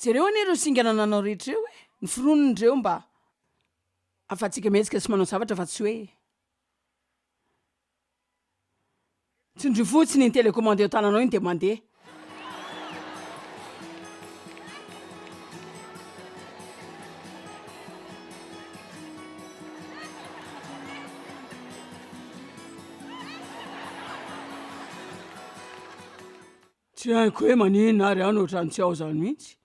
Jereo anie ireo singa nananao rehetra ireo e, ny foronony ireo mba afahantsika mihetsika sy manao zavatra fa tsy hoe tsindrio fotsiny ny telecommande eo an-tananao iny dia mandeha. Tsy haiko hoe maninona ary aho no otrany tsy ao zany mihitsy.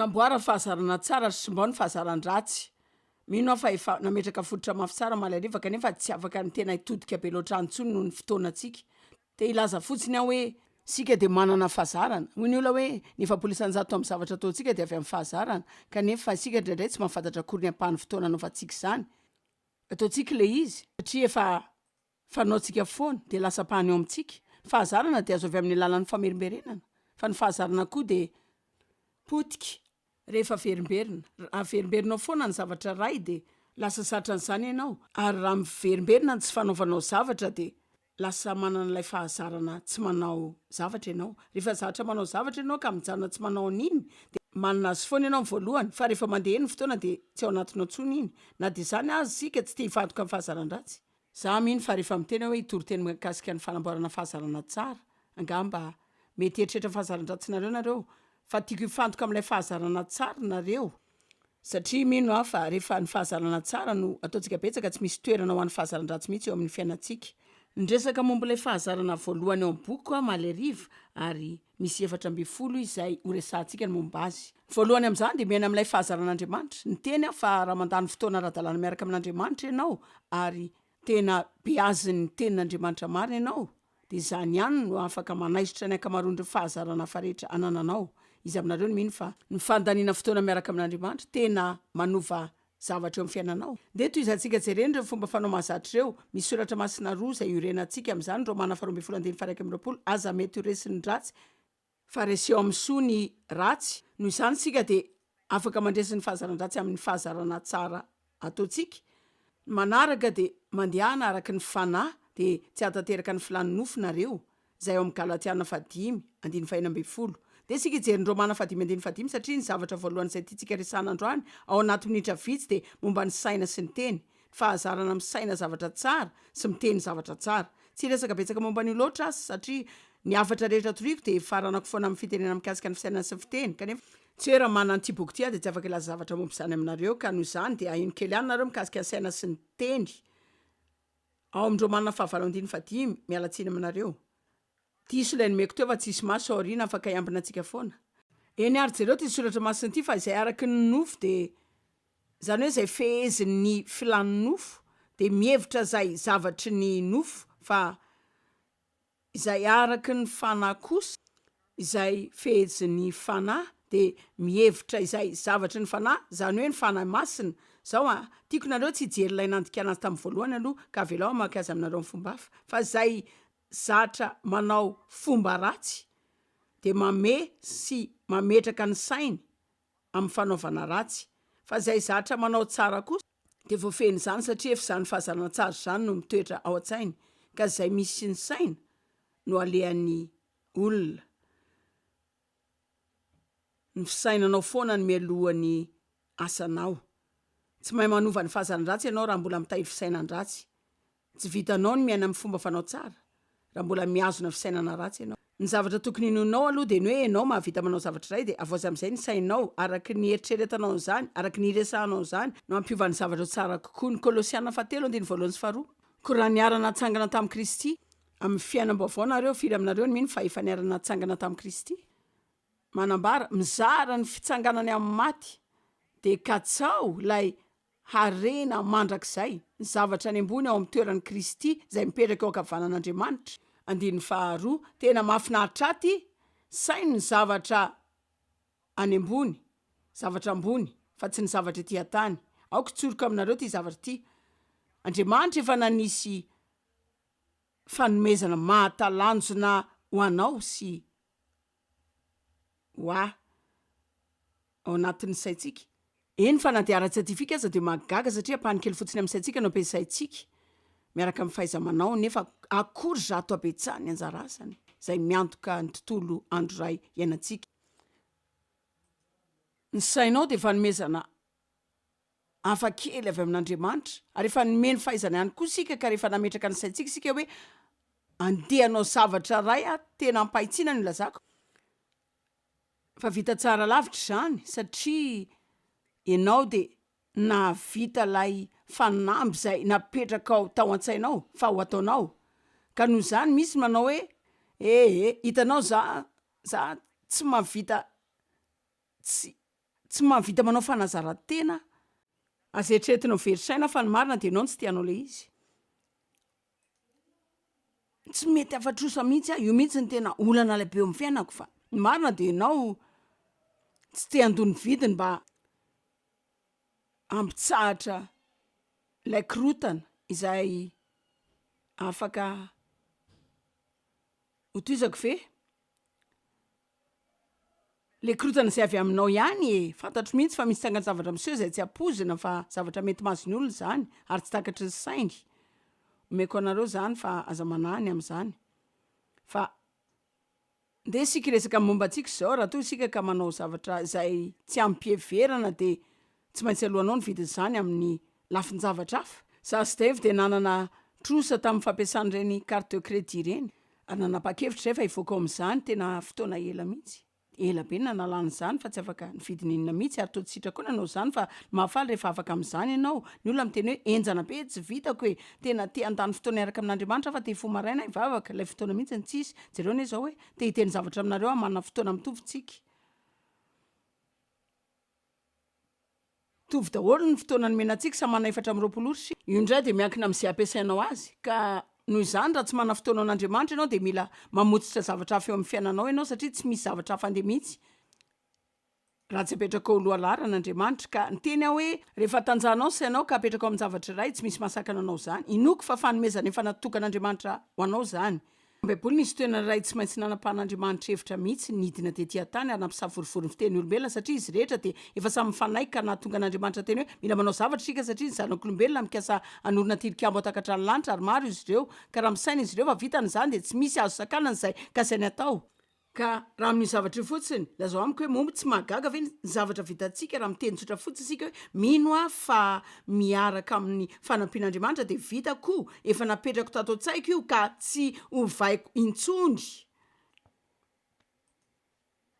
Manamboara ny fahazarana tsara ary simbao ny fahazaran-dratsy. Mino aho fa efa nametraka fototra mafy tsara Mahalaliva kanefa tsy afaka ny tena hitodika be loatra any intsony noho ny fotoanantsika. Dia hilaza fotsiny aho hoe, Isika dia manana fahazarana. Hoy ny olona hoe, Ny efapolo isan-jato amin'ny zavatra ataontsika dia avy amin'ny fahazarana. Kanefa, isika indraindray tsy mahafantatra akory ny ampahan'ny fotoana anaovantsika izany. Ataontsika ilay izy, satria efa fanaontsika foana, dia lasa ampahany ao amintsika. Ny fahazarana dia azo avy amin'ny alalan'ny famerimberenana, fa ny fahazarana koa dia potika Rehefa averimberina. Raha averimberinao foana ny zavatra iray dia lasa zatra an'izany ianao, ary raha miverimberina ny tsy fanaovanao zavatra dia lasa manana ilay fahazarana tsy manao zavatra ianao. Rehefa zatra manao zavatra ianao ka mijanona tsy manao an'iny dia manana azy foana ianao ny voalohany, fa rehefa mandeha ny fotoana dia tsy ao anatinao intsony iny. Na dia izany aza isika tsy te-hivadoka amin'ny fahazaran-dratsy. Za mino fa rehefa miteny aho hoe hitory teny mikasika ny fanamboarana fahazarana tsara, angamba mety hieritreritra ny fahazaran-dratsinareo nareo, fa tiako hifantoka amin'ilay fahazarana tsara nareo, satria mino aho fa rehefa ny fahazarana tsara no ataontsika betsaka tsy misy toerana ho an'ny fahazaran-dratsy mihitsy eo amin'ny fiainantsika. Niresaka momba ilay fahazarana voalohany ao amin'ny bokiko aho omaly hariva, ary Misy efatra ambin'ny folo izay horesahantsika ny momba azy. Ny voalohany amin'izany dia miaina amin'ilay fahazaran'Andriamanitra. Ny teny fa raha mandany fotoana ara-dalàna miaraka amin'Andriamanitra ianao ary tena beazin'ny Tenin'Andriamanitra marina ianao, dia izany ihany no afaka manaisotra ny ankamaroan'ireo fahazarana hafa rehetra anananao. Iza aminareo no mino fa ny fandaniana fotoana miaraka amin'Andriamanitra tena manova zavatra eo amin'ny fiainanao. Dia tohizantsika jereny ireo fomba fanao mahazatra ireo. Misy soratra masina roa izay iorenantsika amin'izany, Romana faharoa ambin'ny folo andininy faha-iraika amby roapolo, Aza mety ho resin'ny ratsy, fa reseo amin'ny soa ny ratsy, noho izany isika dia afaka mandresy ny fahazaran-dratsy amin'ny fahazarana tsara ataontsika. Ny manaraka dia, Mandehana araka ny fanahy, dia tsy hahatanteraka ny filàn'ny nofo nareo. izay ao amin'ny Galatiana fahadimy, andininy fahena ambin'ny folo. Dia isika hijery ny Romana fahadimy andininy fahadimy satria ny zavatra voalohany izay tiantsika resahana androany ao anaty minitra vitsy dia momba ny saina sy ny teny, ny fahazarana misaina zavatra tsara sy miteny zavatra tsara. Tsy hiresaka betsaka momba an'io loatra aho satria ny hafatra rehetra toriako dia ifaranako foana amin'ny fitenenana mikasika ny fisainana sy ny fiteny kanefa, tsy hoe raha manana an'ity boky ity aho dia tsy afaka hilaza zavatra momba izany aminareo ka noho izany dia aheno kely ihany nareo mikasika ny saina sy ny teny Ao amin'ny Romana fahavalo andininy fahadimy, miala tsiny aminareo. Diso ilay nomeko teo fa tsy hisy maso ao aoriana afaka hiambina antsika foana. Eny ary jereo ity soratra masina ity fa izay araky ny nofo dia izany hoe izay fehezin'ny filan'ny nofo dia mihevitra izay zavatry ny nofo fa izay araka ny fanahy kosa, izay fehezin'ny fanahy dia mihevitra izay zavatry ny fanahy, izany hoe ny fanahy masina, izao an, tiako nareo tsy hijery ilay nandikana azy tamin'ny voalohany aloha ka avelao hamaky azy aminareo amin'ny fomba hafa, fa izay zatra manao fomba ratsy dia mamehy sy mametraka ny sainy amin'ny fanaovana ratsy, fa izay zatra manao tsara kosa dia voafehin'izany, satria efa izany fahazanan-tsara izany no mitoetra ao an-tsainy, ka izay misy ny saina no alehan'ny olona. Ny fisainanao foana no mialoha ny asanao. Tsy mahay manova ny fahazaran-dratsy ianao raha mbola mitahiry fisainan-dratsy. Tsy vitanao ny miaina amin'ny fomba fanao tsara raha mbola mihazona fisainana ratsy ianao. Ny zavatra tokony hinoanao aloha dia ny hoe ianao mahavita manao zavatra iray dia avoazy amin'izay ny sainao, araka ny eritreretanao an'izany, araka ny hiresahanao an'izany no hampiova ny zavatra ho tsara kokoa. Ny Kolosiana fahatelo andininy voalohany sy faharoa. Koa raha niara-natsangana tamin'i Kristy amin'ny fiainam-baovao nareo, firy aminareo no mino fa efa niara-natsangana tamin'i Kristy? manambara, mizara ny fitsanganany amin'ny maty, dia katsaho ilay harena mandrakizay, ny zavatra any ambony ao amin'ny toeran'i Kristy izay mipetraka eo ankavanan'Andriamanitra, andininy faharoa, tena mahafinaritra aty saino ny zavatra any ambony, zavatra ambony, fa tsy ny zavatra ety an-tany, aoka hitsoroka aminareo ity zavatra ity, Andriamanitra efa nanisy fanomezana mahatalanjona ho anao sy. ho ahy ao anatin'ny saintsika. Eny fa na dia ara-tsiantifika aza dia mahagaga satria ampahany kely fotsiny amin'ny saintsika no ampiasaintsika miaraka amin'ny fahaiza-manao nefa akory zato habetsaha ny anjara asany izay miantoka ny tontolo andro iray iainantsika. Ny sainao dia fanomezana. hafa kely avy amin'Andriamanitra, ary efa nomeny fahaizana ihany koa isika ka rehefa nametraka ny saintsika isika hoe andeha hanao zavatra iray aho, tena ampahitsiana no ilazako fa vita tsara lavitra izany satria ianao dia nahavita ilay fanamby izay napetrakao tao an-tsainao fa ho ataonao, ka noho izany misy ny manao hoe eh eh hitanao za, za tsy mahavita Tsy, tsy mahavita manao fanazaran-tena. Aza eritreretina ho very saina fa ny marina dia ianao no tsy te hanao ilay izy. Tsy mety hafatrosa mihitsy aho, io mihitsy no tena olana lehibe eo amin'ny fiainako fa ny marina dia ianao tsy te handoa ny vidiny mba hampitsahatra ilay korotana izay afaka ho tohizako ve? Le korontana izay avy aminao ihany e! Fantatro mihitsy fa misy tsangan-javatra miseho izay tsy ampoizina fa zavatra mety mahazo ny olona izany ary tsy takatry ny sainy. Omeko anareo izany fa aza manahy ny amin'izany. Fa ndeha isika hiresaka ny momba antsika izao raha toa isika ka manao zavatra izay tsy amim-piheverana dia. Tsy maintsy aloanao ny vidin'izany amin'ny lafin-javatra hafa. Sasy Dave dia nanana trosa tamin'ny fampiasana ireny carte de crédit ireny ary nanapa-kevitra izay fa hivoaka ao amin'izany tena fotoana ela mihitsy. Ela be ny nanalana izany fa tsy afaka nividy n'inona mihitsy ary toa tsy sitraka koa nanao izany fa ny mahafaly rehefa afaka amin'izany ianao. Ny olona miteny hoe henjana be, tsy vitako e! Tena te handany fotoana hiaraka amin'Andriamanitra aho fa te hifoha maraina hivavaka, ilay fotoana mihitsy no tsisy. Jereo anie izao hoe te hiteny zavatra aminareo aho manana fotoana mitovy tsika. Mitovy daholo ny fotoana nomena antsika, samy manana efatra amby roapolo ora isika. Io indray dia miankina amin'izay ampiasainao azy, ka noho izany raha tsy manana fotoana ho an'Andriamanitra ianao dia mila mamotsitra zavatra hafa eo amin'ny fiainanao ianao satria tsy misy zavatra hafa andeha mihitsy raha tsy apetraka ho lohalaharana Andriamanitra, ka ny teny aho hoe rehefa tanjahanao ny sainao ka apetraka ao amin'ny zavatra iray tsy misy mahasakana anao izany, inoako fa fanomezana efa natokan'Andriamanitra ho anao izany. Baiboly nisy toerana iray tsy maintsy nanapahan'Andriamanitra hevitra mihitsy nidina tetỳ an-tany ary nampisavorovoro ny fiteny olombelona satria izy rehetra dia efa samy mifanaiky ka nahatonga an'Andriamanitra teny hoe mila manao zavatra isika satria ny zanak'olombelona mikasa hanorina tilikambo hatakatra ny lanitra ary maro izy ireo ka raha misaina izy ireo fa vitany izany dia tsy misy azo sakanana izay kasainy atao Ka raha amin'io zavatra io fotsiny, lazao amiko hoe moa tsy mahagaga ve ny zavatra vitantsika raha miteny tsotra fotsiny isika hoe mino aho fa miaraka amin'ny fanampian'Andriamanitra dia vita koa, efa napetrako tato an-tsaiko io ka tsy ovaiko intsony.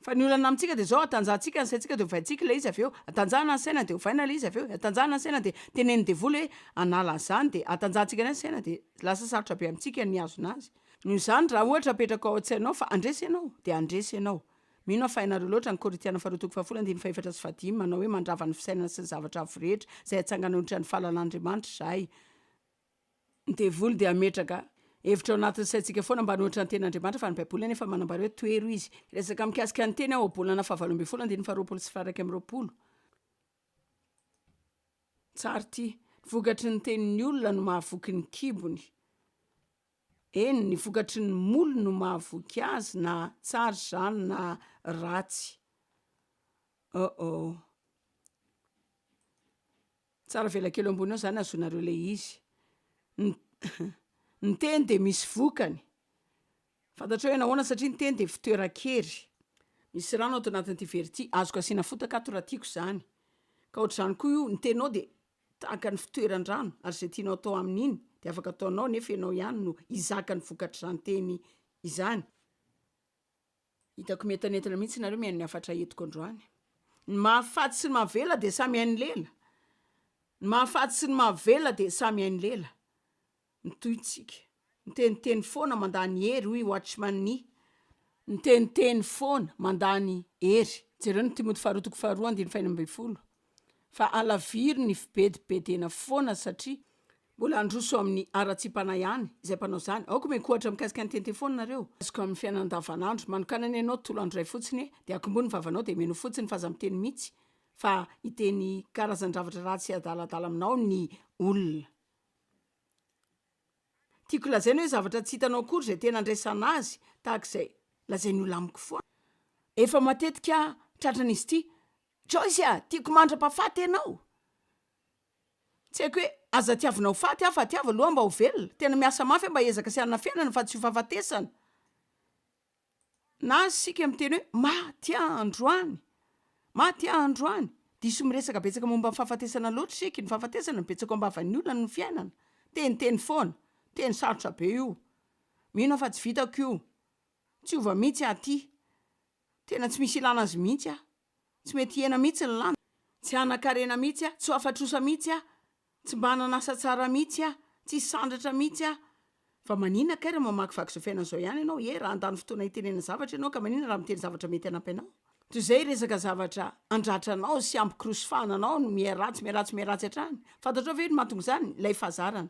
Fa ny olana amintsika dia izao, atanjahantsika ny saintsika dia ovaintsika ilay izy avy eo, atanjahana ny saina dia ovaina ilay izy avy eo, atanjahana ny saina dia tenenin'ny devoly hoe hanala an'izany dia atanjahantsika indray ny saina dia lasa sarotra be amintsika ny hihazona azy. Noho izany, raha ohatra apetrako ao an-tsainao fa handresy ianao, dia handresy ianao. Mino aho fa hainareo loatra ny Korintiana Faharoa toko fahafolo andininy fahefatra sy fahadimy manao hoe mandrava ny fisainana sy ny zavatra avo rehetra izay hatsangana ho ohatran'ny fahalalàn'Andriamanitra izahay, ny devoly dia hametraka hevitra ao anatin'ny saintsika foana mba hanohitra ny tenin'Andriamanitra fa ny Baiboly anefa manambara hoe tohero izy. Hiresaka mikasika ny teny aho ao Bolana fahavalo ambin'ny folo andininy faharoapolo sy faharaika amby roapolo. Tsara ity, Ny vokatry ny tenin'ny olona no mahavoky ny kibony. Eny, ny vokatry ny moly no mahavoky azy na tsara izany na ratsy. Oh oh. Tsara avela kely eo ambony eo zany azonareo le izy. Ny teny de misy vokany, fantatrao hoe nahoana satria ny teny de fitoeran-kery, misy rano ato anatin'ity vera ity, azoko asiana fotaka ato raha tiako zany, ka ohatr'izany koa io ny teninao de Tahaka ny fitoeran-drano, ary izay tianao atao amin'iny dia afaka ataonao nefa ianao ihany no hizaka ny vokatr'izany teny izany. Hitako mientanentana mihitsy nareo mihaino ny hafatra entiko androany. Ny mahafaty sy ny mahavela dia samy hain'ny lela. Ny mahafaty sy ny mahavela dia samy hain'ny lela. Mitohy tsika. Miteniteny foana mandany hery hoy Watchman Nee. Miteniteny foana mandany hery. Jereo ny Timoty faharoa toko faharoa andininy fahenina ambin'ny folo. Fa alaviro ny fibedibedena foana satria mbola handroso amin'ny haratsiam-panahy ihany izay mpanao izany. Aoka miankohatra mikasika ny miteniteny foana nareo. Azoko amin'ny fiainana andavanandro. Manokana ny anao tolo andro iray fotsiny e, dia akombohy ny vavanao dia mino fotsiny fa aza miteny mitsy fa hiteny karazan-dravatra ratsy sy adaladala aminao ny olona. Tiako lazaina hoe zavatra tsy hitanao akory izay tena andraisana azy tahaka izay lazain'ny olona amiko foana. Efa matetika tratran'izy ity, Joyce ah! tiako mandra-pahafaty ianao, tsy haiko hoe aza tiavinao faty aho fa tiavo aloha mba ho velona, tena miasa mafy aho mba hiezaka sy hanafenana fa tsy ho fahafatesana. Na isika miteny hoe maty androany, maty androany. Diso miresaka betsaka momba ny fahafatesana loatra isika, ny fahafatesana betsaka ao am-bavan'ny olona ny fiainana, teniteny foana, teny sarotra be io, mino aho fa tsy vitako io, tsy hova mihitsy aho aty, tena tsy misy ilana azy mihitsy aho. tsy mety hihena mihitsy ny lanja, tsy hanan-karena mihitsy aho, tsy ho afa-trosa mihitsy aho, tsy mba hanana asa tsara mihitsy aho, tsy hisandratra mihitsy aho. Fa maninona kay raha mamakivaky izao fiainana izao ihany ianao e? Raha handany fotoana hitenenana zavatra ianao ka maninona raha miteny zavatra mety hanampy anao? Toy izay resaka zavatra handratra anao sy hampikirosofahana anao no miha-ratsy, miha-ratsy, miha-ratsy hatrany. Fantatrao ve ny mahatonga izany? Ilay fahazarana.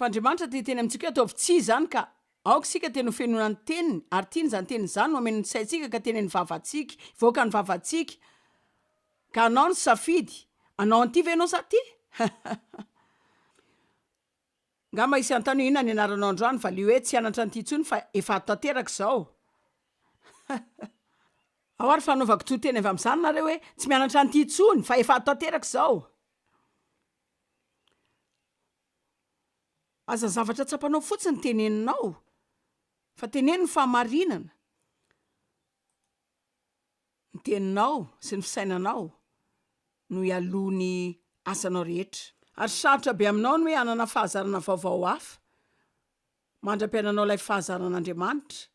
Fa Andriamanitra te hiteny amintsika hoe ataovy tsia izany ka. Aoka isika te nofenoina ny Teniny, ary tiany izany Teniny izany, nomeny ny saintsika ka teneny vavantsika, hivoaka ny vavantsika. Ka hanao ny safidy, hanao an'ity ve ianao sa aty? Angamba hisy hanontany hoe inona ny anaranao androany, valiho hoe tsy hianatra an'ity intsony fa efa ato tanteraka izao. Ao ary fanaovako tohiteny avy amin'izany nareo hoe tsy mianatra an'ity intsony fa efa ato tanteraka izao. Aza zavatra tsapanao fotsiny teneninao fa teneno ny fahamarinana, ny teninao sy ny fisainanao no hialoha ny asanao rehetra. Ary sarotra be aminao ny hoe hanana fahazarana vaovao hafa mandra-piainanao ilay fahazaran'Andriamanitra.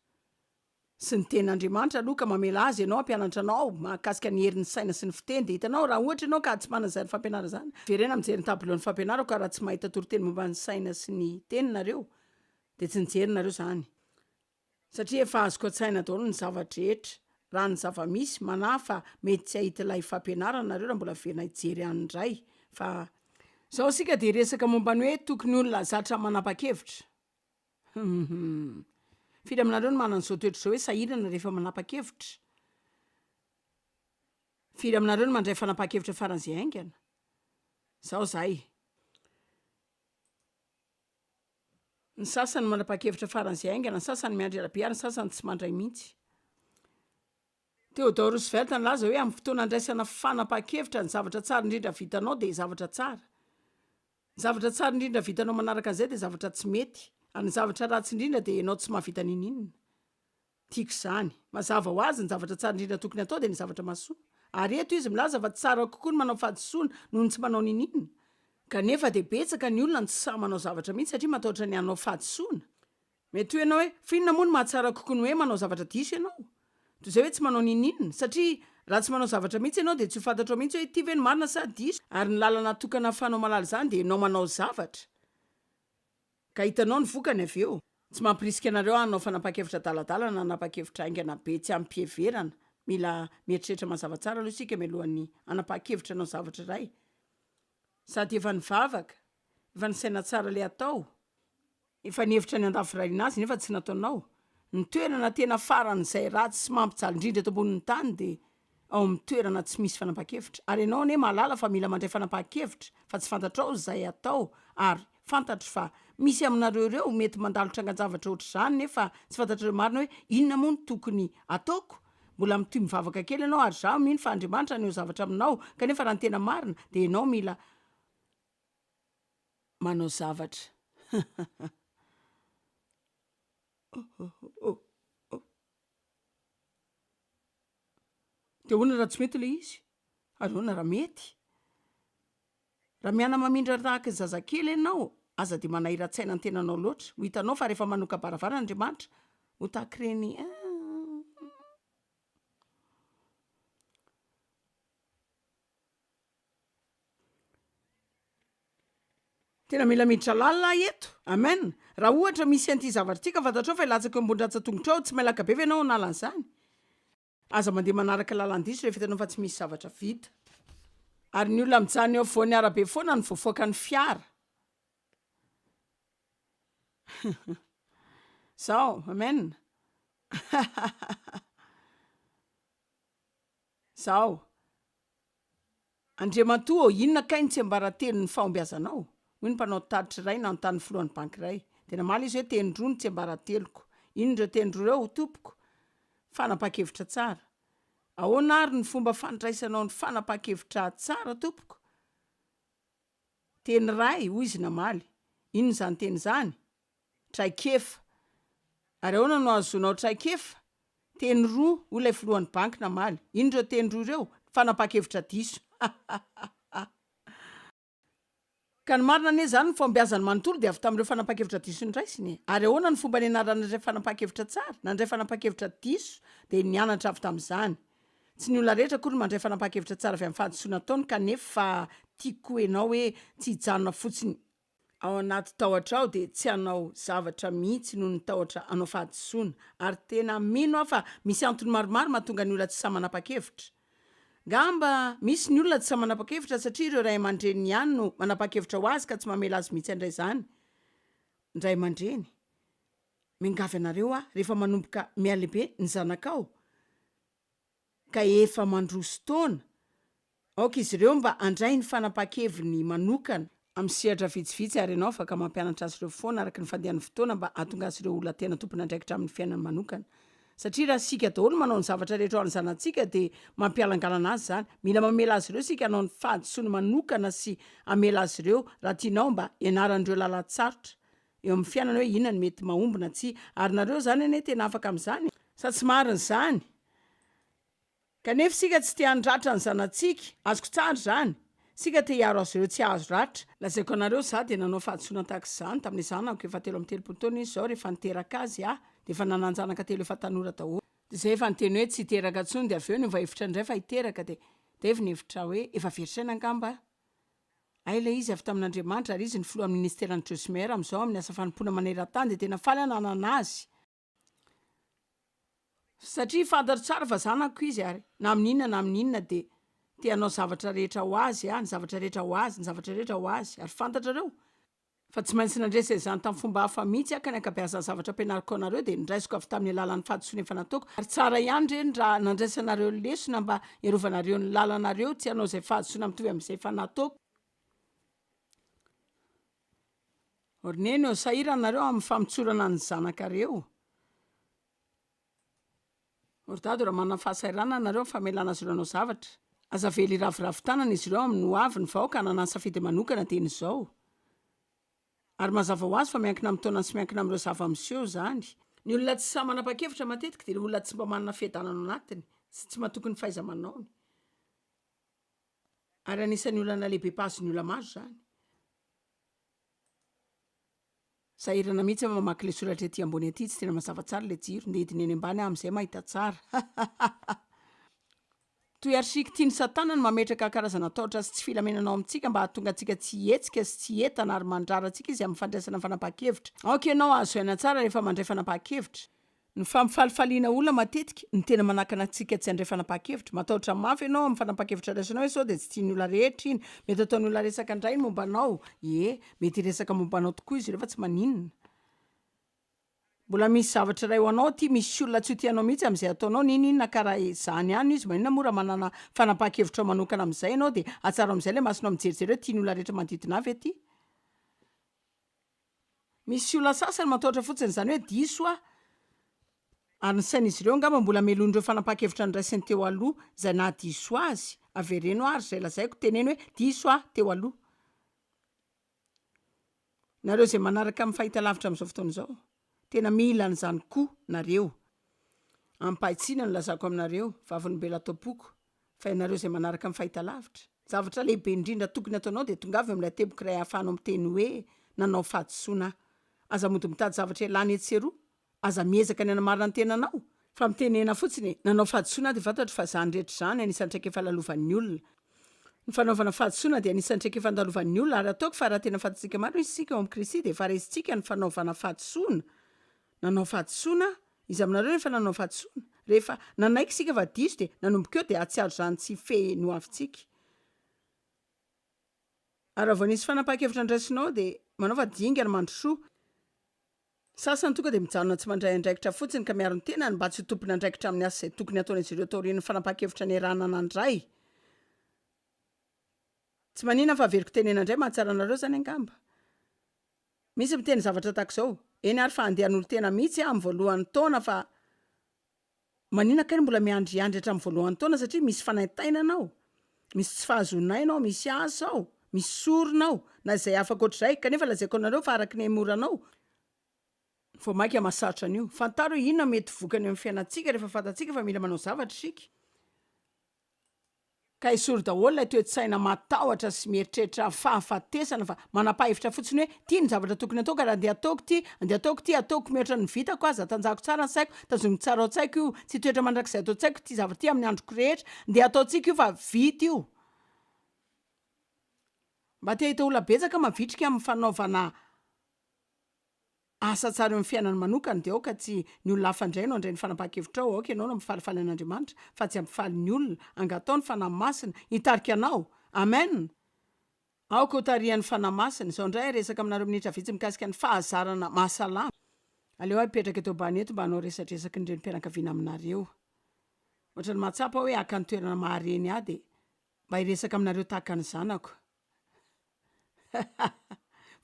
sy ny tenin'Andriamanitra aloha ka mamela azy ianao hampianatra anao mahakasika ny herin'ny saina sy ny fiteny dia hitanao raha ohatra ianao ka tsy manana izany fampianarana izany verena mijery ny tableau ny fampianarako ka raha tsy mahita toriteny momba ny saina sy ny teny nareo dia tsy nijery nareo izany satria efa azoko an-tsaina daholo ny zava-drehetra raha ny zava-misy manahy fa mety tsy hahita ilay fampianarana nareo raha mbola verina hijery any indray fa izao isika dia hiresaka momba ny hoe tokony olona zatra manapa-kevitra. Hum. Firy aminareo no manana izao toetra izao hoe sahirana rehefa manapa-kevitra? Firy aminareo no mandray fanapahan-kevitra faran'izay haingana? Zao zahay. Ny sasany manapahan-kevitra faran'izay haingana, ny sasany miandry ela be ary ny sasany tsy mandray mihitsy. Theodore Roosevelt nilaza hoe amin'ny fotoana andraisana fanapahan-kevitra ny zavatra tsara indrindra vitanao dia zavatra tsara. Ny zavatra tsara indrindra vitanao manaraka an'izay dia zavatra tsy mety, ary ny zavatra ratsy indrindra dia ianao tsy mahavita ninininona. Tiako izany. Mazava ho azy, ny zavatra tsara indrindra tokony hatao dia ny zavatra mahasoa. Ary eto izy milaza fa tsara kokoa ny manao fahadisoana noho ny tsy manao ninininona. Kanefa dia betsaka ny olona no tsy sahy manao zavatra mihitsy satria matahotra ny hanao fahadisoana. Mety ho ianao hoe, Fa inona moa no mahatsara kokoa ny hoe manao zavatra diso ianao, toy izay hoe tsy manao n'inon'inona? Satria raha tsy manao zavatra mihitsy ianao, dia tsy ho fantatrao mihitsy hoe ity ve no marina sa diso, ary ny lalana atokana ahafahanao mahalala izany dia ianao manao zavatra, ka hitanao ny vokany avy eo. Tsy mampirisika anareo hanao fanapahan-kevitra adaladala na hanapahan-kevitra haingana be tsy amim-piheverana. Mila mieritreritra mazava tsara aloha isika mialohan'ny hanapahan-kevitra hanao zavatra iray. Sady efa nivavaka, efa nisaina tsara ilay hatao. Efa nihevitra ny handafiravina azy nefa tsy nataonao. Ny toerana tena faran'izay ratsy sy mampijaly indrindra eto ambonin'ny tany dia ao amin'ny toerana tsy misy fanapahan-kevitra. Ary ianao anie mahalala fa mila mandray fanapahan-kevitra fa tsy fantatrao izay atao ary fantatro fa misy aminareo ireo mety mandalo trangan-javatra ohatr'izany nefa tsy fantatrareo marina hoe inona moa no tokony ataoko? Mbola mitohy mivavaka kely ianao ary izaho mino fa Andriamanitra haneho zavatra aminao kanefa raha ny tena marina dia ianao mila manao zavatra oh oh de ahoana raha tsy mety le izy ary ahoana raha mety raha miana mamindra tahaka ny zazakely ianao aza de manahirantsaina ny tenanao loatra ho hitanao fa rehefa manoka-baravara andriamanitra ho tahaka ireny Tena mila miditra lalina aho eto. Amen. Raha ohatra misy an'ity zavatra ity ka fantatrao fa hilatsaka eo ambony ratsan-tongotrao, tsy mailaka be ve ianao hanala an'izany? Aza mandeha manaraka lalan-diso rehefa hitanao fa tsy misy zavatra vita. Ary ny olona mijanona eo afovoan'ny arabe foana no voafaoka ny fiara. Zao, amen. Zao. Andriamatoa ô, inona kay ny tsiambaratelon'ny fahombiazanao? hoy ny mpanao tatitra iray nanontany ny filohan'ny banky iray. Dia namaly izy hoe, Teny roa no tsiambarateloko. Inona ireo teny roa ireo, tompoko? Fanapahan-kevitra tsara. Ahoana àry ny fomba fandraisanao ny fanapahan-kevitra tsara, tompoko? Teny iray, hoy izy namaly. Inona izany teny izany? Traikefa, Ary ahoana no ahazoanao traikefa? Teny roa, hoy ilay filohan'ny banky namaly. Inona ireo teny roa ireo? Fanapahan-kevitra diso. Ka ny marina anie izany ny fahombiazany manontolo dia avy tamin'ireo fanapahan-kevitra diso noraisiny e! Ary ahoana ny fomba nianarany nandray fanapahan-kevitra tsara? Nandray fanapahan-kevitra diso dia nianatra avy tamin'izany. Tsy ny olona rehetra akory no mandray fanapahan-kevitra tsara avy amin'ny fahadisoana ataony kanefa tiako koa ianao hoe tsy hijanona fotsiny ao anaty tahotra ao dia tsy hanao zavatra mihitsy noho ny tahotra hanao fahadisoana. Ary tena mino aho fa misy antony maromaro mahatonga ny olona tsy sahy manapa-kevitra. Ngamba misy ny olona tsy sahy manapa-kevitra satria ireo ray aman-dreniny ihany no manapa-kevitra ho azy ka tsy mamela azy mihitsy handray izany. Ray aman-dreny, miangavy anareo aho rehefa manomboka mihalehibe ny zanakao, ka efa mandroso taona, aoka izy ireo mba handray ny fanapahan-keviny manokana, amin'ny sehatra vitsivitsy, ary ianao afaka mampianatra azy ireo foana araka ny fandehan'ny fotoana mba hahatonga azy ireo ho olona tena tompon'andraikitra amin'ny fiainany manokana. Satria raha isika daholo manao ny zavatra rehetra ho an'ny zanatsika dia mampihalangalana azy izany. Mila mamela azy ireo isika hanao ny fahadisoany manokana sy hamela azy ireo raha tianao mba hianaran'ireo lalan-tsarotra. eo amin'ny fiainana hoe inona no mety mahomby na tsia, ary nareo zany anie tena afaka amin'izany? Sa tsy marina izany? Kanefa isika tsy te handratra ny zanatsika, azoko tsara izany, isika te hiaro azy ireo tsy hahazo ratra. Lazaiko anareo, izaho dia nanao fahadisoana tahaka izany tamin'ny zanako, efa telo amby telopolo taona izy izao, rehefa niteraka azy aho, dia efa nanan-janaka telo efa tanora daholo, dia izay efa niteny hoe tsy hiteraka intsony, dia avy eo niova hevitra indray fa hiteraka, dia dia avy nihevitra hoe efa very saina angamba aho, Hay ilay izy avy tamin'Andriamanitra ary izy ny filohan'ny ministeran'i Josmer amin'izao amin'ny asa fanompoana maneran-tany dia tena faly aho nanana azy satria fantatro tsara fa zanako izy ary na amin'ny inona na amin'ny inona dia te hanao zavatra rehetra ho azy aho, ny zavatra rehetra ho azy, ny zavatra rehetra ho azy ary fantatrareo Fa tsy maintsy nandresy izany tamin'ny fomba hafa mihitsy aho, ka ny ankabeazan'ny zavatra ampianariko anareo dia noraisiko avy tamin'ny alalan'ny fahadisoana efa nataoko, ary tsara ihany ireny raha nandraisanareo lesona mba hiarovanareo ny lalanareo tsy hanao izay fahadisoana mitovy amin'izay efa nataoko. Orneno, Sahirana nareo amin'ny famotsorana ny zanakareo? Ry dado, raha manana fahasahiranana ianareo amin'ny famelana azy ireo hanao zavatra, aza avela hiraviravy tanana izy ireo amin'ny ho avy, ny vahoaka hanana ny safidy manokana dieny izao. Ary mazava ho azy fa miankina amin'ny taonany sy miankina amin'ireo zava-miseho izany. Ny olona tsy sahy manapa-kevitra matetika dia ilay olona tsy mba manana fiadanana ao anatiny sy tsy matoky ny fahaiza-manaony. Ary anisan'ny olana lehibe mpahazo ny ola-maro izany. Sahirana mihitsy aho mamaky ilay soratra ety ambony ety, tsy tena mazava tsara ilay jiro, ndeha hidina eny ambany aho amin'izay mahita tsara. Hahahahha. Toy archique tian'i Satana ny mametraka karazana tahotra sy tsy filaminana ao amintsika mba hahatonga antsika tsy hihetsika sy tsy hietana ary mandrara antsika izy amin'ny fandraisana fanapahan-kevitra. Aoka ianao hahazoaina tsara rehefa mandray fanapahan-kevitra. Ny fampifalifaliana olona matetika no tena manakana antsika tsy handray fanapahan-kevitra. Matahotra mafy ianao amin'ny fanapahan-kevitra raisinao hoe sao dia tsy tian'ny olona rehetra iny. Mety ataon'ny olona resaka indray ny momba anao. Ie, mety hiresaka momba anao tokoa izy ireo fa tsy maninona. Mbola misy zavatra iray ho anao aty, misy olona tsy ho tia anao mihitsy amin'izay ataonao, n'inon'inona ka raha izany ihany no izy. Maninona moa raha manana fanapahan-kevitrao manokana amin'izay ianao dia hatsarao amin'izay ilay masonao mijerijery hoe tian'ny olona rehetra manodidina ahy ve ity? Misy olona sasany matahotra fotsiny izany hoe diso aho, ary ny sain'izy ireo angamba mbola melohin'ireo fanapahan-kevitra noraisiny teo aloha izay nahadiso azy, avereno ary izay lazaiko, teneno hoe diso aho teo aloha. Nareo izay manaraka amin'ny fahitalavitra amin'izao fotoana izao. Tena mila an'izany koa nareo. Amim-pahitsiana no lazako aminareo, vavolombelon'ato am-poko, fa ianareo izay manaraka amin'ny fahitalavitra. Ny zavatra lehibe indrindra tokony hataonao dia tongava eo amin'ilay teboka iray ahafahanao miteny hoe, Nanao fahadisoana aho. Aza mody mitady zavatra ialany etsy sy eroa. Aza miezaka ny hanamarina ny tenanao, Fa mitenena fotsiny e! Nanao fahadisoana aho dia fantatro fa izany rehetra izany anisan'ny traikefa lalovan'ny olona. Ny fanaovana fahadisoana dia anisan'ny traikefa andalovan'ny olona ary ataoko fa raha tena fantatsika marina izy isika ao amin'i Kristy dia efa resintsika ny fanaovana fahadisoana. Nanao fahadisoana aho. Iza aminareo no efa nanao fahadisoana? Rehefa nanaiky isika fa diso dia nanomboka eo dia hahatsiaro izany tsy hifehy ny hoavintsika. Ary raha vao nisy fanapahan-kevitra niraisinao dia manaova dingana mandrosoa. Ny sasany tonga dia mijanona tsy mandray andraikitra fotsiny ka miaro ny tenany mba tsy ho tompon'andraikitra amin'ny asa izay tokony hataon'izy ireo taorian'ny fanapahan-kevitra niarahana nandray. Tsy maninona fa averiko tenena indray, mahatsara anareo izany angamba. Misy miteny zavatra tahaka izao, eny ary fa handeha hanolo-tena mihitsy aho amin'ny voalohan'ny taona fa. Maninona kay no mbola miandriandry hatramin'ny voalohan'ny taona satria misy fanaintainana ao, misy tsy fahazoana aina ao, misy asa ao, misy sorona ao, na izay hafa ankoatr'izay, kanefa lazaiko anareo fa araka ny haimoranao, vao mainka mahasarotra an'io. Fantaro hoe inona no mety vokany eo amin'ny fiainantsika rehefa fantatsika fa mila manao zavatra isika. Ka esory daholo ilay toe-tsaina matahotra sy mieritreritra fahafatesana fa manapahefitra fotsiny hoe ty no zavatra tokony atao ka raha andeha ataoko ty, andeha ataoko ty, ataoko mihoatra ny vitako, aza tanjahako tsara ny saiko, tazomiko tsara ao an-tsaiko io, tsy hitoetra mandrakizay ato an-tsaiko ty zavatra ty amin'ny androko rehetra, ndeha ataontsika io fa vita io. Mba te hahita olona betsaka mavitrika amin'ny fanaovana. Asa tsara eo am fiainana manokana dia aoka tsy ny olona hafa indray no handray ny fanapahan-kevitrao, aoka ianao no hampifalifaly an'Andriamanitra fa tsy hampifaly ny olona, angatao ny Fanahy Masina hitarika anao! Amen! Aoka ho tarihan'ny Fanahy Masina. Izao indray hiresaka aminareo minitra vitsy mikasika ny fahazarana mahasalama. Aleo aho hipetraka eto ambany eto mba hanao resadresaky ny renim-pianakaviana aminareo. Ohatran'ny mahatsapa aho hoe haka ny toerana maha-reny ahy dia mba hiresaka aminareo tahaka ny zanako.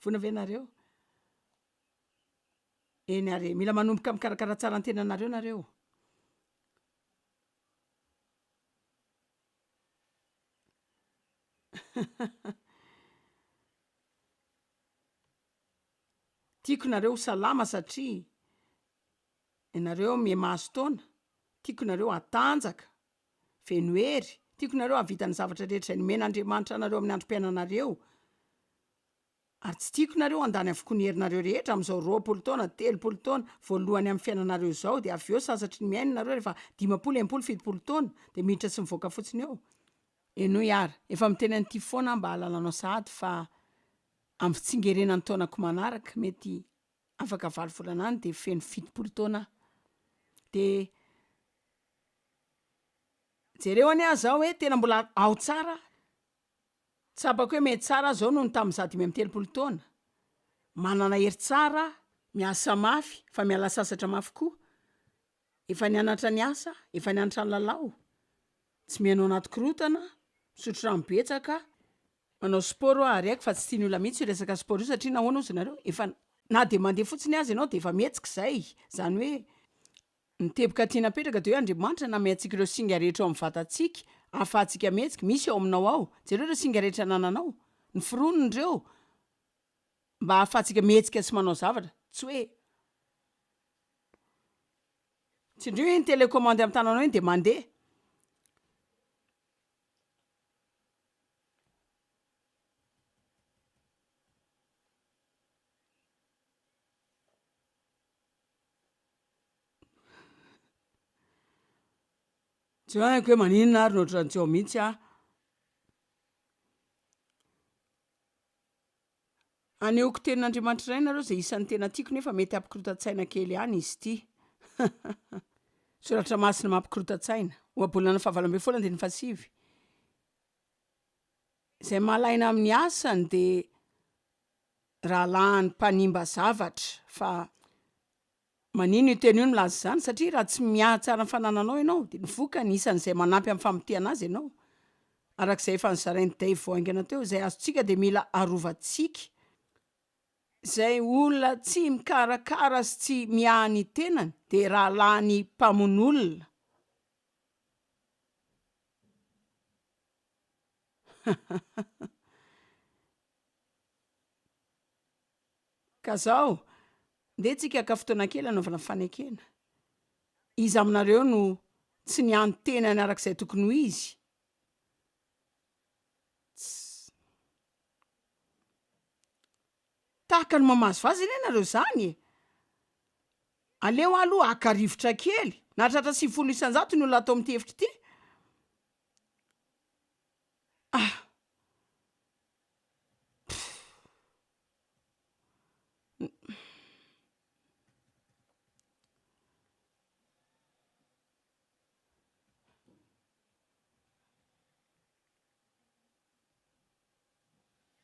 Vona ve nareo? Eny ary e, mila manomboka mikarakara tsara ny tenanareo nareo, tiako nareo ho salama satria ianareo miha-mahazo taona, tiako nareo hatanjaka, Venohery, tiako nareo hahavita ny zavatra rehetra izay nomena Andriamanitra anareo amin'ny androm-piainanareo, ary tsy tiako nareo handany avokoa ny herinareo rehetra amin'izao roapolo taona, telopolo taona, voalohany amin'ny fiainanareo izao, dia avy eo sasatry ny mihaino nareo rehefa dimampolo, enimpolo, fitopolo taona, dia miditra sy mivoaka fotsiny eo. Henoy ary, efa miteny an'ity foana aho mba hahalalanao sahady fa amin'ny fitsingerena ny taonako manaraka, mety afaka valo volana any dia feno fitopolo taona aho, dia Jereo anie aho zao hoe tena mbola ao tsara aho, tsapako hoe mety tsara aho zao noho ny tamin'ny za dimy amby telopolo taona, manana hery tsara aho, miasa mafy, efa miala sasatra mafy koa, efa nianatra niasa, efa nianatra nilalao, tsy mihaino anaty korontana, misotro rano betsaka, manao sport aho ary haiko fa tsy tian'ny olona mihitsy io resaka sport io satria nahoana ozy nareo, efa na dia mandeha fotsiny aza ianao dia efa mihetsika izay, izany hoe Ny teboka tiana apetraka dia hoe Andriamanitra nanome antsika ireo singa rehetra ao amin'ny vatantsika ahafahantsika mihetsika, misy ao aminao ao, jereo ireo singa rehetra anananao, noforoniny ireo mba ahafahantsika mihetsika sy manao zavatra, tsy hoe tsindrio hoe ny télécommande amin'ny tananao iny dia mandeha, Tsy haiko hoe maninona ary no ohatran'ny tsy ao mihitsy aho. Anehoako tenin'Andriamanitra iray nareo izay isan'ny tena tiako nefa mety hampikorontan-tsaina kely ihany izy ity. Soratra masina mampikorontan-tsaina. Ohabolana fahavalo ambin'ny folo andininy fahasivy. Izay mahalahina amin'ny asany dia rahalahiny mpanimba zavatra fa manino io teny io milaza izany satria raha tsy miahy tsara ny fanananao ianao dia ny vokany isan'izay manampy amin'ny famotehana azy ianao araka izay efa nozarain'i Dave vao haingana teo izay azontsika dia mila arovantsika izay olona tsy mikarakara sy tsy miahy ny tenany dia rahalahiny mpamono olona Ka zao, ndeha tsika haka fotoana kely hanaovana fanekena. Iza aminareo no tsy niany tenany araka izay tokony ho izy? Tsy. Tahaka ny mamazo vaza anie nareo zany e! Aleo aloha haka rivotra kely, nahatratra sivifolo isan-jato ny olona ato amin'ity efitra ity. Ah!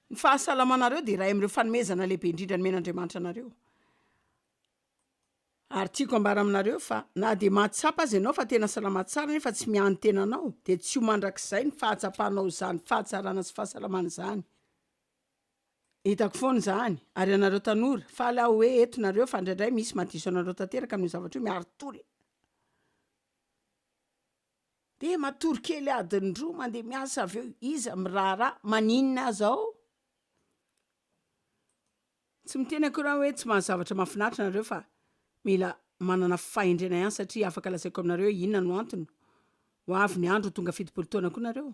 Ny fahasalamanareo dia iray amin'ireo fanomezana lehibe indrindra nomen'Andriamanitra anareo. Ary tiako ambara aminareo fa na dia mahatsapa aza ianao fa tena salama tsara nefa tsy miany tena anao dia tsy ho mandrakizay ny fahatsapanao izany fahatsarana sy fahasalamana izany. Hitako foana izany. Ary ianareo tanora, faly aho hoe eto nareo fa indraindray misy mahadiso anareo tanteraka amin'io zavatra io, miaro tola. Dia matory kely adiny roa mandeha miasa avy eo iza miraharaha maninona aza ao? Tsy miteny akory aho hoe tsy mahazavatra mahafinaritra nareo fa mila manana fahendrena ihany satria afaka lazaiko aminareo hoe inona no antony, ho avy ny andro ho tonga fitopolo taona koa nareo.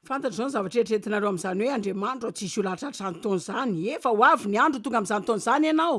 Fantatro zao ny zavatra eritreretinareo amzany hoe Andriamanitro tsisy olahatra hatrany taona zany, efa ho avy ny andro ho tonga amzany taona zany ianao,